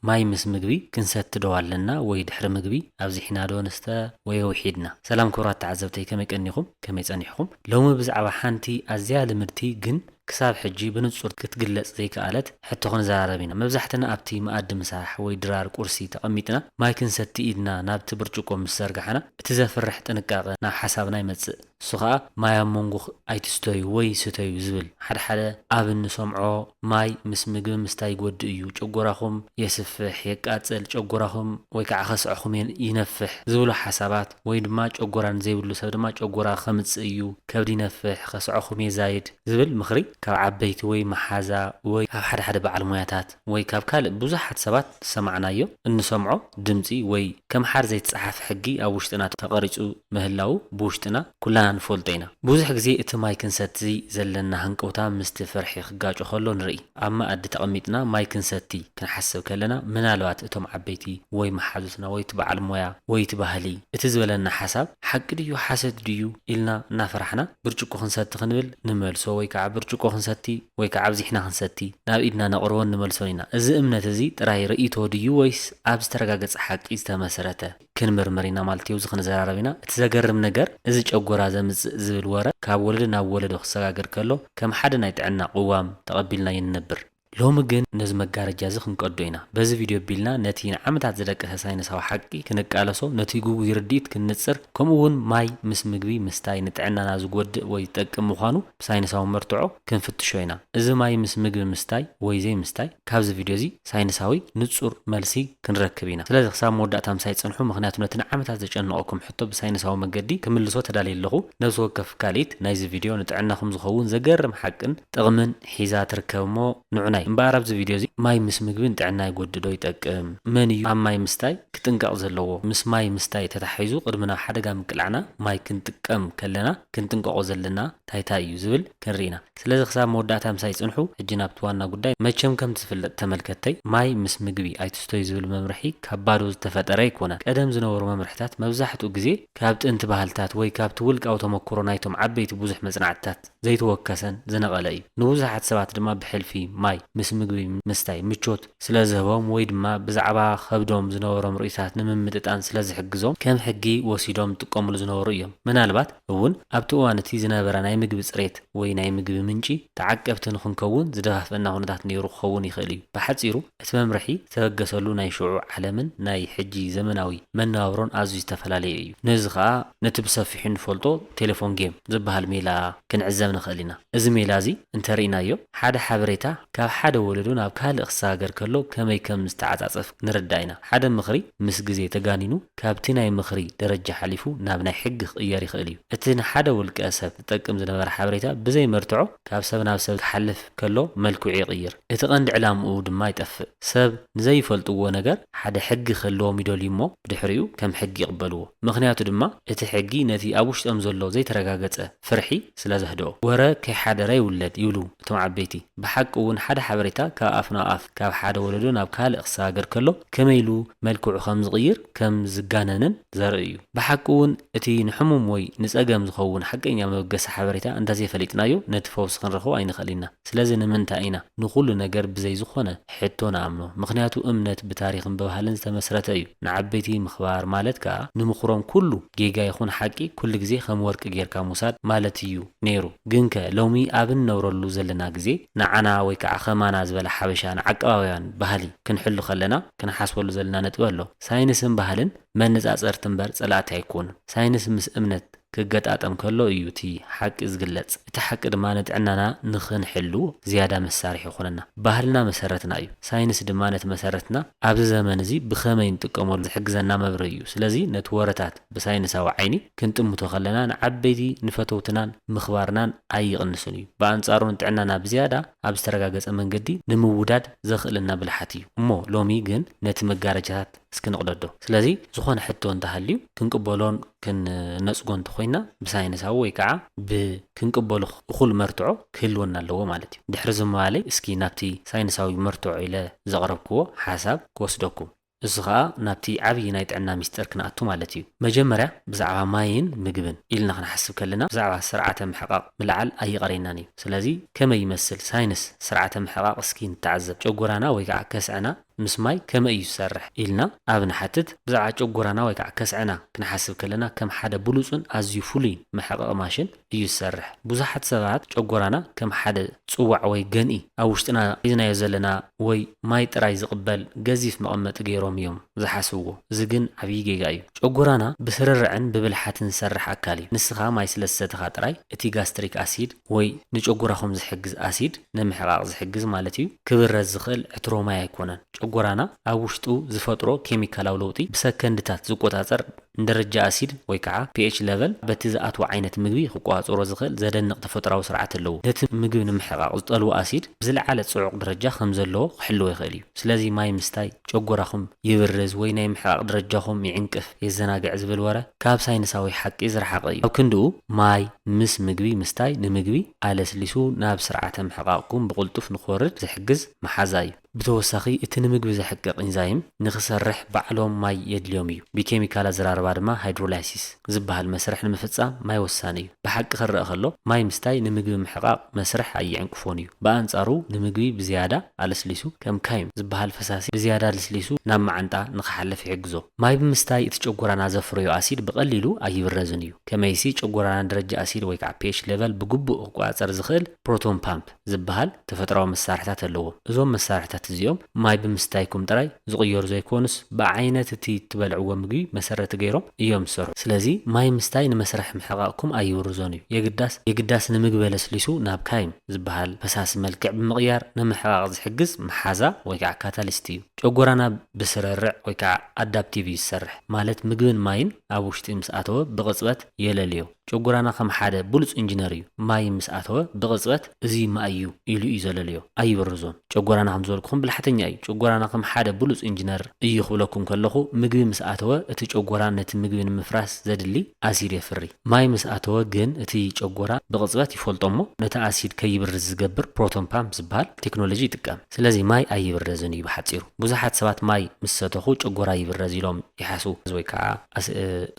ማይ ምስ ምግቢ ክንሰቲ ዶ ኣለና ወይ ድሕሪ ምግቢ ኣብዚሒና ዶ ንስተ ወይ ኣዊሒድና። ሰላም ክብራት ተዓዘብተይ ከመይ ቀኒኹም ከመይ ጸኒሕኹም ሎሚ ብዛዕባ ሓንቲ ኣዝያ ልምድቲ ግን ክሳብ ሕጂ ብንጹር ክትግለጽ ዘይከኣለት ሕቶ ክንዘራረብ ኢና መብዛሕትና ኣብቲ መኣዲ ምሳሕ ወይ ድራር ቁርሲ ተቐሚጥና ማይ ክንሰቲ ኢድና ናብቲ ብርጭቆ ምስ ዘርጋሕና እቲ ዘፍርሕ ጥንቃቐ ናብ ሓሳብና ይመጽእ እሱ ከኣ ማይ ኣብ መንጎ ኣይትስተዩ ወይ ስተዩ ዝብል ሓደ ሓደ ኣብ እንሰምዖ ማይ ምስ ምግቢ ምስታይ ይጎድእ እዩ ጨጎራኹም የስፍሕ የቃጽል ጨጎራኹም ወይ ከኣ ከስዐኹም ይነፍሕ ዝብሉ ሓሳባት ወይ ድማ ጨጎራ ንዘይብሉ ሰብ ድማ ጨጎራ ከምጽእ እዩ ከብዲ ይነፍሕ ከስዐኹም የዛይድ ዝብል ምኽሪ ካብ ዓበይቲ ወይ መሓዛ ወይ ካብ ሓደ ሓደ በዓል ሞያታት ወይ ካብ ካልእ ብዙሓት ሰባት ዝሰማዕናዮ እንሰምዖ ድምጺ ወይ ከምሓር ዘይተጸሓፈ ሕጊ ኣብ ውሽጥና ተቐሪጹ ምህላዉ ብውሽጥና ኩላና ንፈልጦ ኢና። ብዙሕ ግዜ እቲ ማይ ክንሰቲ ዘለና ሃንቀውታ ምስቲ ፍርሒ ክጋጮ ከሎ ንርኢ። ኣብ መኣዲ ተቐሚጥና ማይ ክንሰቲ ክንሓስብ ከለና ምናልባት እቶም ዓበይቲ ወይ መሓዙትና ወይ እቲ በዓል ሞያ ወይ እቲ ባህሊ እቲ ዝበለና ሓሳብ ሓቂ ድዩ ሓሰት ድዩ ኢልና እናፈራሕና ብርጭቆ ክንሰቲ ክንብል ንመልሶ ወይ ከኣ ብርጭቆ ክንሰቲ ወይ ከኣ ኣብዚሕና ክንሰቲ ናብ ኢድና ነቕርቦን ንመልሶን ኢና። እዚ እምነት እዚ ጥራይ ርእይቶ ድዩ ወይስ ኣብ ዝተረጋገጸ ሓቂ ዝተመስረተ? ክንምርምር ኢና ማለት እዩ። ኣብዚ ክንዘራረብ ኢና። እቲ ዘገርም ነገር እዚ ጨጎራ ዘምጽእ ዝብል ወረ ካብ ወለዶ ናብ ወለዶ ክሰጋገር ከሎ ከም ሓደ ናይ ጥዕና ቅዋም ተቐቢልናዮ ንነብር። ሎሚ ግን ነዚ መጋረጃ እዚ ክንቀዶ ኢና። በዚ ቪድዮ ኣቢልና ነቲ ንዓመታት ዝደቀሰ ሳይንሳዊ ሓቂ ክንቃለሶ፣ ነቲ ግጉይ ርድኢት ክንንጽር፣ ከምኡ'ውን ማይ ምስ ምግቢ ምስታይ ንጥዕናና ዝጎድእ ወይ ዝጠቅም ምዃኑ ብሳይንሳዊ መርትዖ ክንፍትሾ ኢና። እዚ ማይ ምስ ምግቢ ምስታይ ወይ ዘይምስታይ፣ ካብዚ ቪድዮ እዚ ሳይንሳዊ ንጹር መልሲ ክንረክብ ኢና። ስለዚ ክሳብ መወዳእታ ምሳይ ጽንሑ፣ ምኽንያቱ ነቲ ንዓመታት ዘጨነቐኩም ሕቶ ብሳይንሳዊ መገዲ ክምልሶ ተዳልየ ኣለኹ። ነብሲ ወከፍ ካልኢት ናይዚ ቪድዮ ንጥዕናኹም ዝኸውን ዘገርም ሓቅን ጥቕምን ሒዛ ትርከብ እሞ ንዑናይ። እምበኣር ኣብዚ ቪድዮ እዚ ማይ ምስ ምግቢ ንጥዕና ይጎድእ ዶ ይጠቅም? መን እዩ ኣብ ማይ ምስታይ ክጥንቀቕ ዘለዎ? ምስ ማይ ምስታይ ተታሓሒዙ ቅድሚ ናብ ሓደጋ ምቅላዕና ማይ ክንጥቀም ከለና ክንጥንቀቖ ዘለና ታይ ታይ እዩ ዝብል ክንሪኢ ኢና። ስለዚ ክሳብ መወዳእታ ምሳይ ፅንሑ። ሕጂ ናብቲ ዋና ጉዳይ። መቸም ከምቲ ዝፍለጥ ተመልከትተይ ማይ ምስ ምግቢ ኣይትስተዩ ዝብል መምርሒ ካብ ባዶ ዝተፈጠረ ኣይኮነን። ቀደም ዝነበሩ መምርሕታት መብዛሕትኡ ግዜ ካብ ጥንቲ ባህልታት ወይ ካብቲ ውልቃዊ ተመኩሮ ናይቶም ዓበይቲ ብዙሕ መፅናዕትታት ዘይተወከሰን ዝነቐለ እዩ። ንብዙሓት ሰባት ድማ ብሕልፊ ማይ ምስ ምግቢ ምስታይ ምቾት ስለ ዝህቦም ወይ ድማ ብዛዕባ ከብዶም ዝነበሮም ርእይቶታት ንምምጥጣን ስለ ዝሕግዞም ከም ሕጊ ወሲዶም ዝጥቀምሉ ዝነበሩ እዮም። ምናልባት እውን ኣብቲ እዋን እቲ ዝነበረ ናይ ምግቢ ጽሬት ወይ ናይ ምግቢ ምንጪ ተዓቀብቲ ንኽንከውን ዝደፋፍእና ኩነታት ነይሩ ክኸውን ይኽእል እዩ። ብሓጺሩ፣ እቲ መምርሒ ዝተበገሰሉ ናይ ሽዑ ዓለምን ናይ ሕጂ ዘመናዊ መነባብሮን ኣዝዩ ዝተፈላለየ እዩ። ነዚ ከኣ ነቲ ብሰፊሑ እንፈልጦ ቴለፎን ጌም ዝበሃል ሜላ ክንዕዘብ ንኽእል ኢና። እዚ ሜላ እዚ እንተ ርኢናዮ፣ ሓደ ሓበሬታ ካብ ሓደ ወለዶ ናብ ካልእ ክሰጋገር ከሎ ከመይ ከም ዝተዓጻጸፍ ንርዳእ ኢና። ሓደ ምኽሪ ምስ ግዜ ተጋኒኑ ካብቲ ናይ ምኽሪ ደረጃ ሓሊፉ ናብ ናይ ሕጊ ክቕየር ይኽእል እዩ። እቲ ንሓደ ውልቀ ሰብ ዝጠቅም ዝነበረ ሓበሬታ ብዘይ መርትዖ ካብ ሰብ ናብ ሰብ ክሓልፍ ከሎ መልክዑ ይቕይር፣ እቲ ቀንዲ ዕላምኡ ድማ ይጠፍእ። ሰብ ንዘይፈልጥዎ ነገር ሓደ ሕጊ ክህልዎም ይደልዩ እሞ ብድሕሪኡ ከም ሕጊ ይቕበልዎ። ምኽንያቱ ድማ እቲ ሕጊ ነቲ ኣብ ውሽጦም ዘሎ ዘይተረጋገጸ ፍርሒ ስለ ዘህድኦ። ወረ ከይሓደረ ይውለድ ይብሉ እቶም ዓበይቲ። ብሓቂ እውን ሓደ ሓበሬታ ካብ ኣፍ ናብ ኣፍ፣ ካብ ሓደ ወለዶ ናብ ካልእ ክሰጋገር ከሎ ከመይ ኢሉ መልክዑ ከም ዝቕይር፣ ከም ዝጋነንን፣ ዘርኢ እዩ። ብሓቂ እውን እቲ ንሕሙም ወይ ንጸገም ዝኸውን ሓቀኛ መበገሲ ሓበሬታ እንተ ዘይፈሊጥናዮ ነቲ ፈውሲ ክንረኽቦ ኣይንኸእል ኢና። ስለዚ ንምንታይ ኢና ንኹሉ ነገር ብዘይ ዝኾነ ሕቶ ንኣምኖ? ምኽንያቱ እምነት ብታሪኽን ብባህልን ዝተመስረተ እዩ። ንዓበይቲ ምኽባር ማለት ከኣ ንምኽሮም ኩሉ ጌጋ ይኹን ሓቂ ኩሉ ግዜ ከም ወርቂ ጌርካ ምውሳድ ማለት እዩ ነይሩ። ግንከ ሎሚ ኣብ እንነብረሉ ዘለና ግዜ ንዓና ወይ ከኣ ከማና ዝበለ ሓበሻ ንዓቀባብያን ባህሊ ክንሕሉ ከለና ክንሓስበሉ ዘለና ነጥቢ ኣሎ። ሳይንስን ባህልን መነጻጸርቲ እምበር ጸላእቲ ኣይኮኑን። ሳይንስ ምስ እምነት ክገጣጠም ከሎ እዩ እቲ ሓቂ ዝግለጽ። እቲ ሓቂ ድማ ንጥዕናና ንኽንሕሉ ዝያዳ መሳርሒ ይኾነና። ባህልና መሰረትና እዩ። ሳይንስ ድማ ነቲ መሰረትና ኣብዚ ዘመን እዚ ብኸመይ ንጥቀመሉ ዝሕግዘና መብርሂ እዩ። ስለዚ ነቲ ወረታት። ብሳይንሳዊ ዓይኒ ክንጥምቶ ከለና ንዓበይቲ ንፈተውትናን ምኽባርናን ኣይቕንስን እዩ። ብኣንጻሩ ንጥዕናና ብዝያዳ ኣብ ዝተረጋገጸ መንገዲ ንምውዳድ ዘኽእለና ብልሓት እዩ። እሞ ሎሚ ግን ነቲ መጋረጃታት እስኪ ንቕደዶ። ስለዚ ዝኾነ ሕቶ እንተሃልዩ ክንቅበሎን ክንነጽጎን እንተኾይንና ብሳይንሳዊ ወይ ከኣ ብ ክንቅበሎ እኹል መርትዖ ክህልወና ኣለዎ ማለት እዩ። ድሕሪ እዚ ምባለይ እስኪ ናብቲ ሳይንሳዊ መርትዖ ኢለ ዘቕረብክዎ ሓሳብ ክወስደኩም። እዚ ኸኣ ናብቲ ዓብዪ ናይ ጥዕና ሚስጢር ክንኣቱ ማለት እዩ። መጀመርያ ብዛዕባ ማይን ምግብን ኢልና ክንሓስብ ከለና ብዛዕባ ስርዓተ ምሕቓቕ ምልዓል ኣይቐረየናን እዩ። ስለዚ ከመይ ይመስል ሳይንስ ስርዓተ ምሕቓቕ እስኪ ንተዓዘብ። ጨጎራና ወይ ከዓ ከስዐና ምስ ማይ ከመይ እዩ ዝሰርሕ? ኢልና ኣብ ንሓትት ብዛዕባ ጨጎራና ወይ ከዓ ከስዐና ክንሓስብ ከለና ከም ሓደ ብሉፅን ኣዝዩ ፍሉይን መሕቐቒ ማሽን፣ እዩ ዝሰርሕ። ብዙሓት ሰባት ጨጎራና ከም ሓደ ጽዋዕ ወይ ገንኢ፣ ኣብ ውሽጥና ሒዝናዮ ዘለና ወይ ማይ ጥራይ ዝቕበል ገዚፍ መቐመጢ ገይሮም እዮም ዝሓስብዎ። እዚ ግን ዓብዪ ጌጋ እዩ። ጨጎራና ብስርርዕን ብብልሓትን ዝሰርሕ ኣካል እዩ። ንስኻ ማይ ስለ ዝሰተኻ ጥራይ እቲ ጋስትሪክ ኣሲድ ወይ ንጨጎራኹም ዝሕግዝ ኣሲድ፣ ንምሕቓቕ ዝሕግዝ ማለት እዩ፣ ክብረዝ ዝኽእል ዕትሮ ማይ ኣይኮነን። ጨጎራና ኣብ ውሽጡ ዝፈጥሮ ኬሚካላዊ ለውጢ ብሰከንድታት ዝቆጻጸር ንደረጃ ኣሲድ ወይ ከኣ ፒኤች ለቨል በቲ ዝኣትዎ ዓይነት ምግቢ ክቆጻጸሮ ዝኽእል ዘደንቕ ተፈጥሮኣዊ ስርዓት ኣለዎ። ነቲ ምግቢ ንምሕቓቕ ዝጠልቦ ኣሲድ ብዝለዓለ ጽዑቕ ደረጃ ከም ዘለዎ ክሕልዎ ይኽእል እዩ። ስለዚ ማይ ምስታይ ጨጎራኹም ይብርዝ ወይ ናይ ምሕቓቕ ደረጃኹም ይዕንቅፍ፣ የዘናግዕ ዝብል ወረ ካብ ሳይንሳዊ ሓቂ ዝረሓቐ እዩ። ኣብ ክንድኡ ማይ ምስ ምግቢ ምስታይ ንምግቢ ኣለስሊሱ ናብ ስርዓተ ምሕቓቕኩም ብቕልጡፍ ንክወርድ ዝሕግዝ መሓዛ እዩ። ብተወሳኺ እቲ ንምግቢ ዘሕቅቕ ኢንዛይም ንኽሰርሕ ባዕሎም ማይ የድልዮም እዩ። ብኬሚካል ኣዘራርባ ድማ ሃይድሮላይሲስ ዝበሃል መስርሕ ንምፍፃም ማይ ወሳኒ እዩ። ብሓቂ ክረኣ ከሎ ማይ ምስታይ ንምግቢ ምሕቓቕ መስርሕ ኣይዕንቅፎን እዩ። ብኣንፃሩ ንምግቢ ብዝያዳ ኣለስሊሱ ከም ካይም ዝበሃል ፈሳሲ ብዝያዳ ልስሊሱ ናብ መዓንጣ ንኽሓልፍ ይሕግዞ። ማይ ብምስታይ እቲ ጨጎራና ዘፍረዮ ኣሲድ ብቐሊሉ ኣይብረዝን እዩ። ከመይሲ ጨጎራና ደረጃ ኣሲድ ወይ ከዓ pH level ብግቡእ ክቆፃፀር ዝኽእል ፕሮቶን ፓምፕ፣ ዝበሃል ተፈጥሮኣዊ መሳርሕታት ኣለዎም። እዞም መሳርሕታት እዚኦም ማይ ብምስታይኩም ጥራይ ዝቕየሩ ዘይኮኑስ ብዓይነት እቲ እትበልዕዎ ምግቢ መሰረት ገይሮም እዮም ዝሰርሑ። ስለዚ ማይ ምስታይ ንመስርሕ ምሕቓቕኩም ኣይብርዞን እዩ። የግዳስ የግዳስ ንምግቢ ኣለስሊሱ ናብ ካይም ዝበሃል ፈሳሲ መልክዕ ብምቕያር ንምሕቓቕ ዝሕግዝ መሓዛ ወይ ከዓ ካታሊስት እዩ። ጨጎራና ብስርርዕ ወይ ከዓ ኣዳፕቲቭ እዩ ዝሰርሕ። ማለት ምግብን ማይን ኣብ ውሽጢ ምስ ኣተወ ብቕፅበት የለልዮ። ጨጎራና ከም ሓደ ብሉጽ እንጅነር እዩ ማይ ምስ ኣተወ ብቅጽበት እዚ ማይ እዩ ኢሉ እዩ ዘለልዮ ኣይብርዞን ጨጎራና ከም ዝበልኩኹም ብላሕተኛ እዩ ጨጎራና ከም ሓደ ብሉጽ እንጅነር እዩ ክብለኩም ከለኹ ምግቢ ምስ ኣተወ እቲ ጨጎራ ነቲ ምግቢ ንምፍራስ ዘድሊ ኣሲድ የፍሪ ማይ ምስ ኣተወ ግን እቲ ጨጎራ ብቅጽበት ይፈልጦ እሞ ነቲ ኣሲድ ከይብርዝ ዝገብር ፕሮቶን ፓምፕ ዝበሃል ቴክኖሎጂ ይጥቀም። ስለዚ ማይ ኣይብረዝን እዩ ብሓጺሩ። ብዙሓት ሰባት ማይ ምስ ሰተኹ ጨጎራ ይብረዝ ኢሎም ይሓስቡ ወይ ከኣ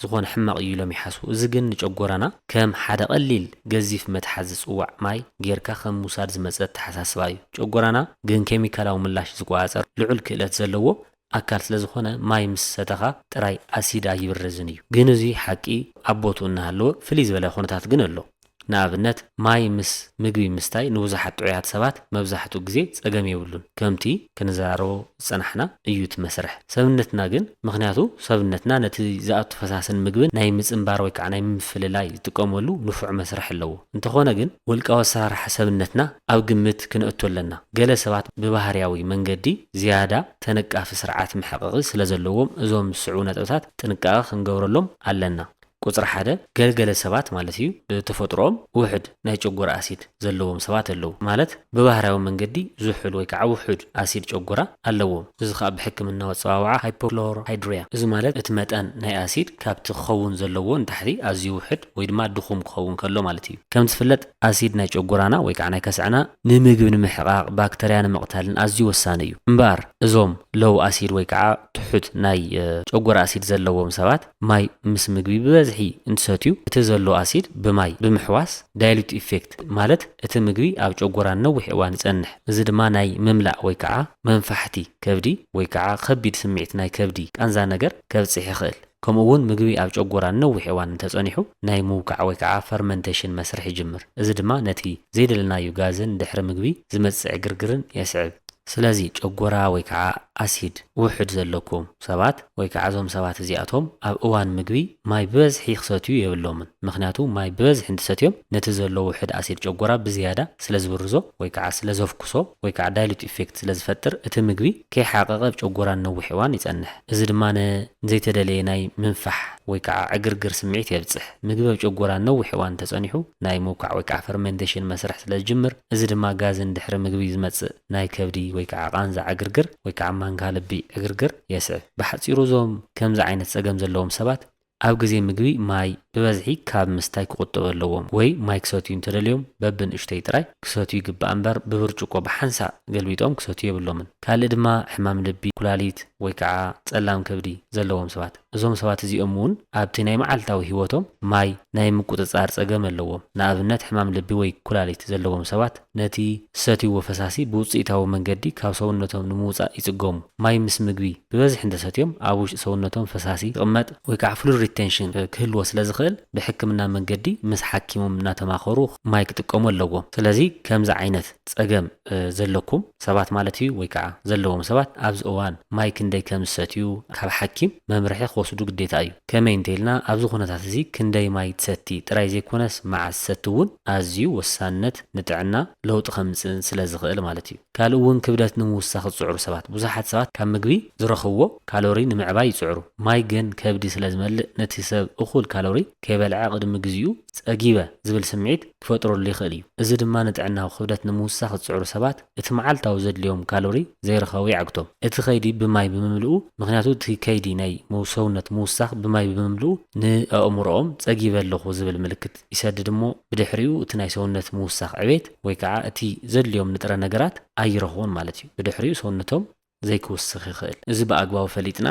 ዝኾነ ሕማቕ እዩ ኢሎም ይሓስቡ። እዚ ግን ንጨጎራና ከም ሓደ ቀሊል ገዚፍ መትሓዚ ጽዋዕ ማይ ጌርካ ከም ምውሳድ ዝመጸ ኣተሓሳስባ እዩ። ጨጎራና ግን ኬሚካላዊ ምላሽ ዝቆጻጸር ልዑል ክእለት ዘለዎ ኣካል ስለ ዝኾነ ማይ ምስ ሰተኻ ጥራይ ኣሲድ ኣይብርዝን እዩ። ግን እዙይ ሓቂ ኣብ ቦትኡ እናሃለወ ፍልይ ዝበለ ኩነታት ግን ኣሎ። ንኣብነት ማይ ምስ ምግቢ ምስታይ ንብዙሓት ጥዑያት ሰባት መብዛሕትኡ ግዜ ጸገም የብሉን ከምቲ ክንዘራረቦ ዝጸናሕና እዩ እቲ መስርሕ ሰብነትና ግን ምኽንያቱ ሰብነትና ነቲ ዝኣቱ ፈሳስን ምግብን ናይ ምጽንባር ወይከዓ ናይ ምፍልላይ ዝጥቀመሉ ንፉዕ መስርሕ ኣለዎ እንተኾነ ግን ውልቃዊ ኣሰራርሓ ሰብነትና ኣብ ግምት ክነእቱ ኣለና። ገለ ሰባት ብባህርያዊ መንገዲ ዝያዳ ተነቃፊ ስርዓት መሕቐቒ ስለዘለዎም እዞም ዝስዕቡ ነጥብታት ጥንቃቐ ክንገብረሎም ኣለና። ቁጽሪ ሓደ፣ ገል ገለ ሰባት ማለት እዩ ብተፈጥሮኦም ውሑድ ናይ ጨጎራ ኣሲድ ዘለዎም ሰባት ኣለዉ። ማለት ብባህርያዊ መንገዲ ዝሑል ወይ ከኣ ውሑድ ኣሲድ ጨጎራ ኣለዎም። እዚ ከኣ ብሕክምናዊ ኣጸዋውዓ ሃይፖክሎሮሃይድሪያ እዚ ማለት እቲ መጠን ናይ ኣሲድ ካብቲ ክኸውን ዘለዎ ንታሕቲ ኣዝዩ ውሑድ፣ ወይ ድማ ድኹም ክኸውን ከሎ ማለት እዩ። ከም ዝፍለጥ ኣሲድ ናይ ጨጎራና ወይ ከዓ ናይ ከስዐና ንምግብ ንምሕቓቕ፣ ባክተርያ ንምቕታልን ኣዝዩ ወሳኒ እዩ። እምበኣር እዞም ሎው ኣሲድ ወይ ከዓ ትሑት ናይ ጨጎራ ኣሲድ ዘለዎም ሰባት ማይ ምስ ምግቢ ብበዝሒ እንትሰትዩ እቲ ዘሎ ኣሲድ ብማይ ብምሕዋስ ዳይሉት ኢፌክት ማለት እቲ ምግቢ ኣብ ጨጎራ ንነዊሕ እዋን ይፀንሕ። እዚ ድማ ናይ ምምላእ ወይ ከዓ መንፋሕቲ ከብዲ ወይ ከዓ ኸቢድ ስምዒት ናይ ከብዲ ቃንዛ ነገር ከብፅሕ ይኽእል። ከምኡ እውን ምግቢ ኣብ ጨጎራ ንነዊሕ እዋን እንተጸኒሑ ናይ ምውቃዕ ወይ ከዓ ፈርመንቴሽን መስርሕ ይጅምር። እዚ ድማ ነቲ ዘይደለናዩ ጋዝን ድሕሪ ምግቢ ዝመጽጽ ዕግርግርን የስዕብ። ስለዚ ጨጎራ ወይ ከዓ ኣሲድ ውሑድ ዘለኩም ሰባት ወይ ከዓ እዞም ሰባት እዚኣቶም ኣብ እዋን ምግቢ ማይ ብበዝሒ ክሰትዩ የብሎምን። ምኽንያቱ ማይ ብበዝሒ እንትሰትዮም ነቲ ዘሎ ውሑድ ኣሲድ ጨጎራ ብዝያዳ ስለዝብርዞ ወይ ከዓ ስለዘፍኩሶ ወይ ከዓ ዳይሉት ኢፌክት ስለዝፈጥር እቲ ምግቢ ከይሓቐቐ ኣብ ጨጎራ ንነዊሕ እዋን ይጸንሕ። እዚ ድማ ንዘይተደለየ ናይ ምንፋሕ ወይ ከዓ ዕግርግር ስምዒት የብፅሕ። ምግቢ ኣብ ጨጎራ ንነዊሕ እዋን እንተፀኒሑ ናይ ምውቃዕ ወይ ከዓ ፈርመንቴሽን መስርሕ ስለዝጅምር እዚ ድማ ጋዝን ድሕሪ ምግቢ ዝመፅእ ናይ ከብዲ ወይ ከዓ ቃንዛ ዕግርግር ወይ ከዓ ማንካ ልቢ ዕግርግር የስዕብ። ብሓፂሩ እዞም ከምዚ ዓይነት ፀገም ዘለዎም ሰባት ኣብ ግዜ ምግቢ ማይ ብበዝሒ ካብ ምስታይ ክቑጠቡ ኣለዎም ወይ ማይ ክሰትዩ እንተደልዮም በብንእሽተይ ጥራይ ክሰትዩ ይግባእ እምበር ብብርጭቆ ብሓንሳእ ገልቢጦም ክሰትዩ የብሎምን። ካልእ ድማ ሕማም ልቢ፣ ኩላሊት ወይ ከኣ ጸላም ከብዲ ዘለዎም ሰባት። እዞም ሰባት እዚኦም እውን ኣብቲ ናይ መዓልታዊ ህይወቶም ማይ ናይ ምቁጽጻር ጸገም ኣለዎም። ንኣብነት ሕማም ልቢ ወይ ኩላሊት ዘለዎም ሰባት። ነቲ ዝሰትይዎ ፈሳሲ ብውጽኢታዊ መንገዲ ካብ ሰውነቶም ንምውጻእ ይጽገሙ። ማይ ምስ ምግቢ ብበዝሒ እንተሰትዮም ኣብ ውሽጢ ሰውነቶም ፈሳሲ ክቕመጥ ወይ ከዓ ፍሉድ ሪተንሽን ክህልዎ ስለዝኽእል ብሕክምና መንገዲ ምስ ሓኪሞም እናተማኸሩ ማይ ክጥቀሙ ኣለዎም። ስለዚ ከምዚ ዓይነት ፀገም ዘለኩም ሰባት ማለት እዩ ወይ ከዓ ዘለዎም ሰባት ኣብዚ እዋን ማይ ክንደይ ከም ዝሰትዩ ካብ ሓኪም መምርሒ ክወስዱ ግዴታ እዩ። ከመይ እንተኢልና ኣብዚ ኩነታት እዚ ክንደይ ማይ ትሰቲ ጥራይ ዘይኮነስ መዓስ ትሰቲ እውን ኣዝዩ ወሳንነት ንጥዕና ለውጢ ከምጽእን ስለ ዝኽእል ማለት እዩ። ካልእ እውን ክብደት ንምውሳኽ ዝጽዕሩ ሰባት። ብዙሓት ሰባት ካብ ምግቢ ዝረኽብዎ ካሎሪ ንምዕባይ ይጽዕሩ። ማይ ግን ከብዲ ስለ ዝመልእ ነቲ ሰብ እኹል ካሎሪ ከይበልዐ ቅድሚ ግዚኡ ጸጊበ ዝብል ስምዒት ክፈጥረሉ ይኽእል እዩ። እዚ ድማ ንጥዕናዊ ክብደት ንምውሳኽ ዝጽዕሩ ሰባት እቲ መዓልታዊ ዘድልዮም ካሎሪ ዘይረኸቡ የዕግቶም። እቲ ከይዲ ብማይ ብምምልኡ ምኽንያቱ እቲ ከይዲ ናይ ሰውነት ምውሳኽ ብማይ ብምምልኡ ንኣእምሮኦም ጸጊበ ኣለኹ ዝብል ምልክት። ይሰድድ እሞ ብድሕሪኡ እቲ ናይ ሰውነት ምውሳኽ ዕቤት ወይ ከዓ እቲ ዘድልዮም ንጥረ ነገራት ኣይረኽቡን ማለት እዩ። ብድሕሪኡ ሰውነቶም ዘይክውስኽ ይኽእል። እዚ ብኣግባቡ ፈሊጥና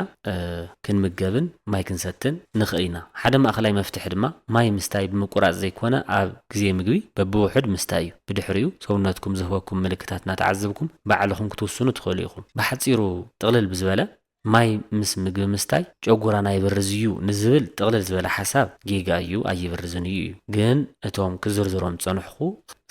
ክንምገብን ማይ ክንሰትን ንኽእል ኢና። ሓደ ማእኸላይ መፍትሒ ድማ ማይ ምስታይ ብምቁራፅ ዘይኮነ ኣብ ግዜ ምግቢ በብውሑድ ምስታይ እዩ። ብድሕሪኡ ሰውነትኩም ዝህበኩም ምልክታት እናተዓዘብኩም ባዕልኹም ክትውስኑ ትኽእሉ ኢኹም። ብሓፂሩ ጥቕልል ብዝበለ ማይ ምስ ምግቢ ምስታይ ጨጉራና ይብርዝ እዩ ንዝብል ጥቕልል ዝበለ ሓሳብ ጌጋ እዩ ኣይብርዝን እዩ እዩ ግን እቶም ክዝርዝሮም ዝጸንሕኹ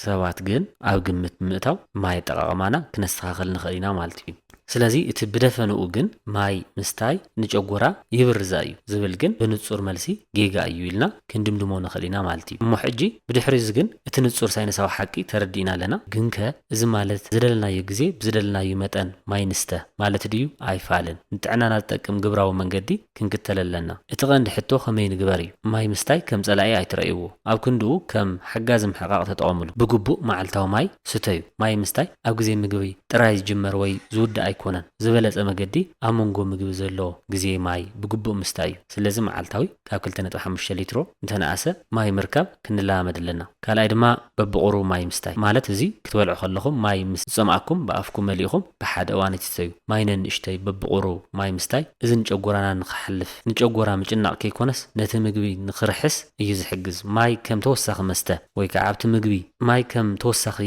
ሰባት ግን ኣብ ግምት ብምእታው ማይ ኣጠቓቕማና ክነስተኻኽል ንኽእል ኢና ማለት እዩ ስለዚ እቲ ብደፈንኡ ግን ማይ ምስታይ ንጨጉራ ይብርዝ ኣዩ ዝብል ግን ብንጹር መልሲ ጌጋ እዩ ኢልና ክንድምድሞ ንኽእል ኢና ማለት እዩ እሞ ሕጂ ብድሕሪ እዚ ግን እቲ ንጹር ሳይነሳዊ ሓቂ ተረዲእና ኣለና ግንከ እዚ ማለት ዝደለናዮ ግዜ ብዝደለናዩ መጠን ማይ ንስተ ማለት ድዩ? ኣይፋልን። ንጥዕናና ዝጠቅም ግብራዊ መንገዲ ክንክተል ኣለና። እቲ ቀንዲ ሕቶ ከመይ ንግበር እዩ። ማይ ምስታይ ከም ጸላኢ ኣይትረእይዎ። ኣብ ክንድኡ ከም ሓጋዚ ምሕቓቕ ተጠቐምሉ። ብግቡእ መዓልታዊ ማይ ስተዩ። ማይ ምስታይ ኣብ ግዜ ምግቢ ጥራይ ዝጅመር ወይ ዝውዳእ ኣይኮነን። ዝበለጸ መገዲ ኣብ መንጎ ምግቢ ዘሎ ግዜ ማይ ብግቡእ ምስታይ እዩ። ስለዚ መዓልታዊ። ካብ ክልተ ነጥቢ ሓሙሽተ ሊትሮ እንተነኣሰ ማይ ምርካብ ክንለማመድ ኣለና። ካልኣይ ድማ በብቑሩብ ማይ ምስታይ ማለት እዚ ክትበልዑ ከለኹም ማይ ምስ ዝጸምኣኩም ብኣፍኩም መሊእኹም ብሓደ እዋን ኣይትስተዩ። ማይ ነንእሽተይ በብቑሩብ ማይ ምስታይ እዚ ንጨጎራና ንክሓልፍ ንጨጎራ ምጭናቕ ከይኮነስ ነቲ ምግቢ ንክርሕስ እዩ ዝሕግዝ። ማይ ከም ተወሳኺ መስተ። ወይ ከኣ ኣብቲ ምግቢ ማይ ከም ተወሳኺ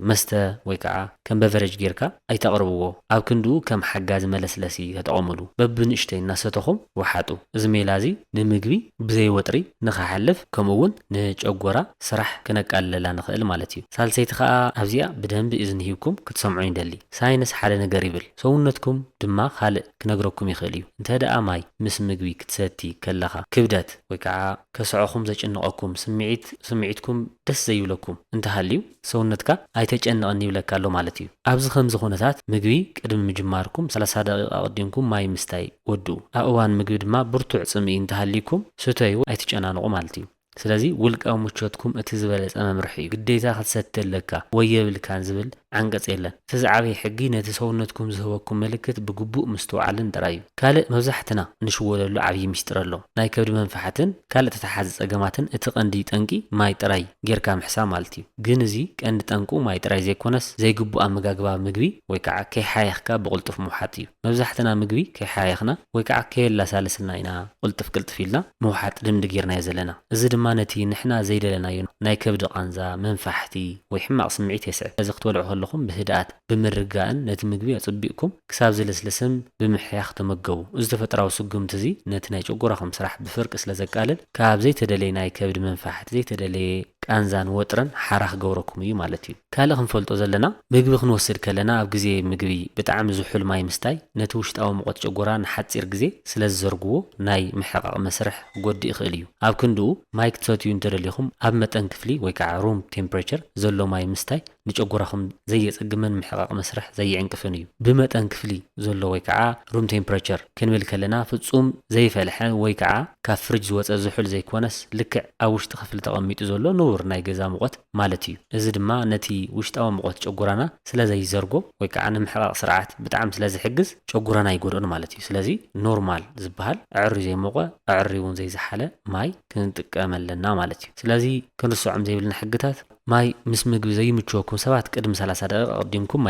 መስተ ወይ ከኣ ከም በቨረጅ ጌርካ ኣይተቕርብዎ። ኣብ ክንድኡ ከም ሓጋዚ መለስለሲ ተጠቐምሉ። በብንእሽተይ እናሰተኹም ውሓጡ። እዚ ሜላ እዚ ንምግቢ ብዘይ ወጥሪ ንኸሓልፍ ከምኡ እውን ንጨጎራ ስራሕ ክነቃልለላ ንኽእል ማለት እዩ። ሳልሰይቲ ከኣ ኣብዚኣ ብደንቢ እዝኒ ሂብኩም ክትሰምዑ ይደሊ። ሳይንስ ሓደ ነገር ይብል ሰውነትኩም ድማ ካልእ ክነግረኩም ይኽእል እዩ። እንተደኣ ማይ ምስ ምግቢ ክትሰቲ ከለኻ ክብደት። ወይ ከዓ ከስዐኹም ዘጭንቐኩም ስምዒት ስምዒትኩም ደስ ዘይብለኩም እንተሃልዩ ሰውነትካ ኣይተጨንቕን ይብለካ ኣሎ ማለት እዩ። ኣብዚ ከምዚ ኩነታት ምግቢ ቅድሚ ምጅማርኩም ሰላሳ ደቒቕ ኣቐዲምኩም ማይ ምስታይ ወድኡ። ኣብ እዋን ምግቢ ድማ ብርቱዕ ፅምኢ እንተሃልይኩም ስተዩ ኣይትጨናንቑ ማለት እዩ። ስለዚ ውልቃዊ ምቾትኩም እቲ ዝበለፀ መምርሒ እዩ። ግዴታ ክትሰቲ ኣለካ ወይ የብልካን ዝብል ዓንቀጽ የለን። እቲ ዝዓበየ ሕጊ ነቲ ሰውነትኩም ዝህበኩም ምልክት ብግቡእ ምስትውዓልን ጥራይ እዩ። ካልእ መብዛሕትና እንሽወደሉ ዓብዪ ምስጢር ኣሎ። ናይ ከብዲ መንፍሓትን ካልእ ተተሓሓዚ ጸገማትን እቲ ቀንዲ ጠንቂ ማይ ጥራይ ጌርካ ምሕሳብ ማለት እዩ። ግን እዚ ቀንዲ ጠንቁ ማይ ጥራይ ዘይኮነስ ዘይግቡእ ኣመጋግባ ምግቢ ወይ ከዓ ከይሓየኽካ ብቕልጡፍ ምውሓጥ እዩ። መብዛሕትና ምግቢ ከይሓየኽና ወይ ከዓ ከየላሳለስልና ኢና ቕልጥፍ ቅልጥፍ ኢልና ምውሓጥ ልምዲ ጌርናዮ ዘለና። እዚ ድማ ነቲ ንሕና ዘይደለናዮ ናይ ከብዲ ቃንዛ፣ መንፋሕቲ፣ ወይ ሕማቕ ስምዒት የስዕብ። ስለዚ ክትበልዑ ከለኹም ብህድኣት፣ ብምርጋእን ነቲ ምግቢ ኣጸቢቕኩም ክሳብ ዝልስልስን ብምሕያኽ ተመገቡ። እዚ ተፈጥራዊ ስጉምቲ እዚ ነቲ ናይ ጨጎራኹም ስራሕ ብፍርቂ ስለ ዘቃልል ካብ ዘይተደለየ ናይ ከብዲ መንፋሕቲ፣ ዘይተደለየ ቃንዛን ወጥርን ሓራ ክገብረኩም እዩ ማለት እዩ። ካልእ ክንፈልጦ ዘለና ምግቢ ክንወስድ ከለና ኣብ ግዜ ምግቢ ብጣዕሚ ዝሑል ማይ ምስታይ ነቲ ውሽጣዊ ሙቐት ጨጎራ ንሓጺር ግዜ ስለ ዝዘርግዎ ናይ ምሕቓቕ መስርሕ፣ ክጎድእ ይኽእል እዩ። ኣብ ክንድኡ፣ ማይ ክትሰትዩ እንተደሊኹም ኣብ መጠን ክፍሊ ወይ ከዓ ሩም ቴምፕሬቸር ዘሎ ማይ ምስታይ ንጨጎራኹም ዘየፀግምን ምሕቓቕ መስርሕ ዘይዕንቅፍን እዩ። ብመጠን ክፍሊ ዘሎ ወይ ከዓ ሩም ቴምፕሬቸር ክንብል ከለና ፍፁም ዘይፈልሐ ወይ ከዓ ካብ ፍርጅ ዝወፀ ዝሑል ዘይኮነስ ልክዕ ኣብ ውሽጢ ክፍሊ ተቐሚጡ ዘሎ ንቡር ናይ ገዛ ሙቐት ማለት እዩ። እዚ ድማ ነቲ ውሽጣዊ ሙቐት ጨጉራና ስለ ዘይዘርጎ ወይ ከዓ ንምሕቓቕ ስርዓት ብጣዕሚ ስለ ዝሕግዝ ጨጉራና ኣይጎድኦን ማለት እዩ። ስለዚ ኖርማል ዝበሃል ኣዐርዩ ዘይሞቐ ኣዐርዩ እውን ዘይዘሓለ ማይ ክንጥቀም ኣለና ማለት እዩ። ስለዚ ክንርሰዖም ዘይብልና ሕግታት። ማይ ምስ ምግቢ ዘይምችወኩም ሰባት ቅድሚ ሰላሳ ደቒቕ ኣቕዲምኩም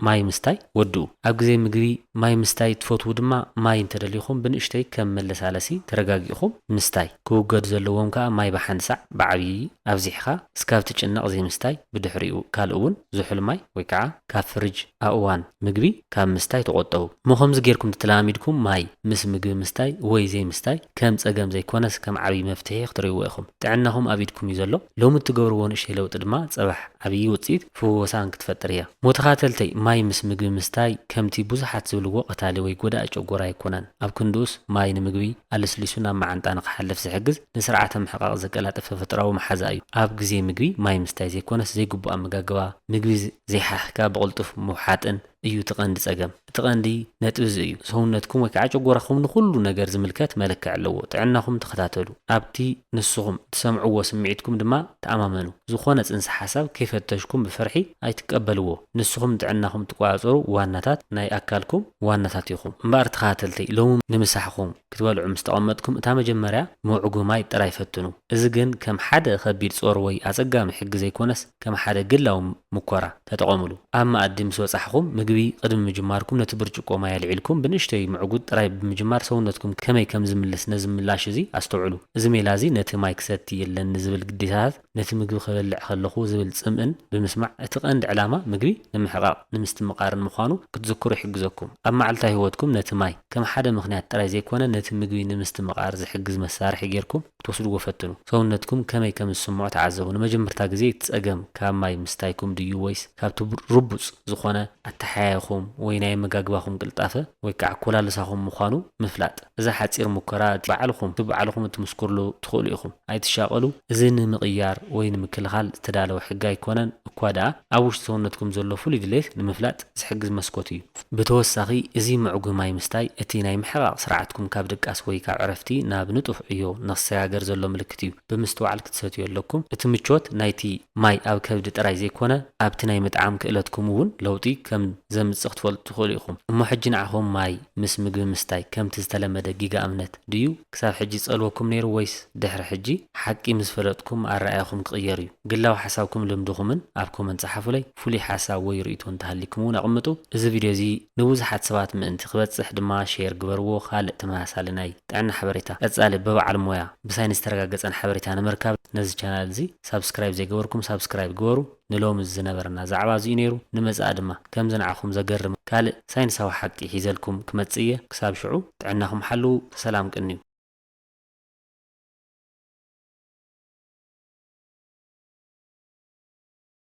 ማይ ምስታይ ወድኡ። ኣብ ግዜ ምግቢ ማይ ምስታይ ትፈትዉ ድማ ማይ እንተደሊኹም ብንእሽተይ ከም መለሳለሲ ተረጋጊእኹም ምስታይ። ክውገዱ ዘለዎም ከኣ ማይ ብሓንሳዕ ብዓብዪ ኣብዚሕኻ እስካብ ትጭነቕ ዘይምስታይ ብድሕሪኡ ካልእ ውን ዝሑል ማይ ወይ ከዓ ካብ ፍርጅ ኣእዋን ምግቢ ካብ ምስታይ ተቖጠቡ እሞ ከምዚ ጌርኩም ተተለማሚድኩም ማይ ምስ ምግቢ ምስታይ ወይ ዘይምስታይ ከም ጸገም ዘይኮነስ ከም ዓብዪ መፍትሒ ክትርእይዎ ኢኹም ጥዕናኹም ኣብ ኢድኩም እዩ ዘሎ ሎሚ እትገብርዎ ንእሽተይ ለውጢ ድማ ጽባሕ ዓብዪ ውጽኢት ፍወሳን ክትፈጥር እያ። ሞተኻተልተይ ማይ ምስ ምግቢ ምስታይ ከምቲ ብዙሓት ዝብልዎ ቀታሊ ወይ ጎዳኢ ጨጎራ ኣይኮነን። ኣብ ክንድኡስ ማይ ንምግቢ ኣለስሊሱ ናብ መዓንጣ ንክሓልፍ ዝሕግዝ ንስርዓተ ምሕቓቕ ዘቀላጥፍ ተፈጥሮኣዊ መሓዛ እዩ። ኣብ ግዜ ምግቢ ማይ ምስታይ ዘይኮነስ ዘይግቡእ ኣመጋግባ፣ ምግቢ ዘይሓኺካ ብቕልጡፍ ምውሓጥን፣ እዩ እቲ ቀንዲ ጸገም። እቲ ቀንዲ ነጥቢ እዚ እዩ። ሰውነትኩም ወይ ከኣ ጨጎራኹም ንኹሉ ነገር ዝምልከት መለክዒ ኣለዎ። ጥዕናኹም ተኸታተሉ። ኣብቲ ንስኹም እትሰምዕዎ ስምዒትኩም ድማ ተኣማመኑ። ዝኾነ ጽንሰ ሓሳብ ከይፈተሽኩም ብፍርሒ ኣይትቀበልዎ። ንስኹም ንጥዕናኹም እትቆጻጸሩ ዋናታት ናይ ኣካልኩም ዋናታት ኢኹም። እምበኣር ተኸታተልቲ፣ ሎሚ ንምሳሕኹም ክትበልዑ ምስ ተቐመጥኩም እታ መጀመርያ መውዕጉ ማይ ጥራይ ፈትኑ። እዚ ግን ከም ሓደ ከቢድ ጾር ወይ ኣጸጋሚ ሕጊ ዘይኮነስ ከም ሓደ ግላዊ ሙኮራ። ተጠቐሙሉ። ኣብ መኣዲ ምስ በጻሕኩም፣ ምግቢ ቅድሚ ምጅማርኩም ነቲ ብርጭቆ ማይ ኣልዒልኩም ብንእሽተይ ምዕጉት ጥራይ ብምጅማር ሰውነትኩም ከመይ ከም ዝምልስ ነዚ ምላሽ እዚ ኣስተውዕሉ። እዚ ሜላ እዚ ነቲ ማይ ክሰቲ የለኒ ዝብል ግዴታታት ነቲ ምግቢ ክበልዕ ከለኹ ዝብል ጽምእን ብምስማዕ እቲ ቀንዲ ዕላማ ምግቢ ንምሕቓቕ ንምስትምቓርን ምዃኑ ክትዝክሩ ይሕግዘኩም። ኣብ መዓልታዊ ህይወትኩም ነቲ ማይ ከም ሓደ ምኽንያት ጥራይ ዘይኮነ ነቲ ምግቢ ንምስትምቓር ዝሕግዝ መሳርሒ ጌርኩም ክትወስድዎ ፈትኑ። ሰውነትኩም ከመይ ከም ዝስምዖ ተዓዘቡ። ንመጀመርታ ግዜ እቲ ጸገም ካብ ማይ ምስታይኩም ድዩ ወይስ ካብቲ ርቡጽ ዝኾነ ኣተሓያይኹም ወይ ናይ ኣመጋግባኹም ቅልጣፈ ወይ ከኣ ኮላልሳኹም ምዃኑ ምፍላጥ። እዛ ሓጺር ሙከራ እቲ ባዕልኹም እቲ ባዕልኹም እትምስክርሉ ትኽእሉ ኢኹም። ኣይትሻቐሉ እዚ ንምቕያር ወይ ንምክልኻል ዝተዳለወ ሕጊ ኣይኮነን እኳ ደኣ ኣብ ውሽጢ ሰውነትኩም ዘሎ ፍሉይ ድሌት ንምፍላጥ ዝሕግዝ መስኮት እዩ። ብተወሳኺ እዚ ምዕጉ ማይ ምስታይ እቲ ናይ ምሕቓቕ ስርዓትኩም ካብ ድቃስ ወይ ካብ ዕረፍቲ ናብ ንጡፍ ዕዮ ንክሰጋገር ዘሎ ምልክት እዩ። ብምስትውዓል ክትሰትዩ ኣለኩም። እቲ ምቾት ናይቲ ማይ ኣብ ከብዲ ጥራይ ዘይኮነ ኣብቲ ናይ ምጥዓም ክእለትኩም እውን ለውጢ ከም ዘምጽእ ክትፈልጡ ትኽእሉ ኢኹም። እሞ ሕጂ ንዓኹም ማይ ምስ ምግቢ ምስታይ ከምቲ ዝተለመደ ጊጋ እምነት ድዩ ክሳብ ሕጂ ዝጸልወኩም ነይሩ ወይስ ድሕሪ ሕጂ ሓቂ ምስ ፈለጥኩም ኣረኣእያኹም ክቕየር እዩ? ግላዊ ሓሳብኩም ልምድኹምን ኣብ ኮመንት ጸሓፉለይ። ፍሉይ ሓሳብ ወይ ርእይቶ እንተሃልይኩም እውን ኣቕምጡ። እዚ ቪድዮ እዚ ንብዙሓት ሰባት ምእንቲ ክበጽሕ ድማ ሼር ግበርዎ። ካልእ ተመሳሳሊ ናይ ጥዕና ሓበሬታ ቀጻሊ ብበዓል ሞያ ብሳይንስ ዝተረጋገጸን ሓበሬታ ንምርካብ ነዚ ቻናል እዚ ሳብስክራይብ ዘይገበርኩም ሳብስክራይብ ግበሩ። ንሎሚ ዝነበረና ዛዕባ እዚ'ዩ ነይሩ። ንመጻኢ ድማ ከምዚ ንዓኹም ዘገርም ካልእ ሳይንሳዊ ሓቂ ሒዘልኩም ክመጽእ እየ። ክሳብ ሽዑ ጥዕናኹም ሓልዉ። ብሰላም ቅንዩ።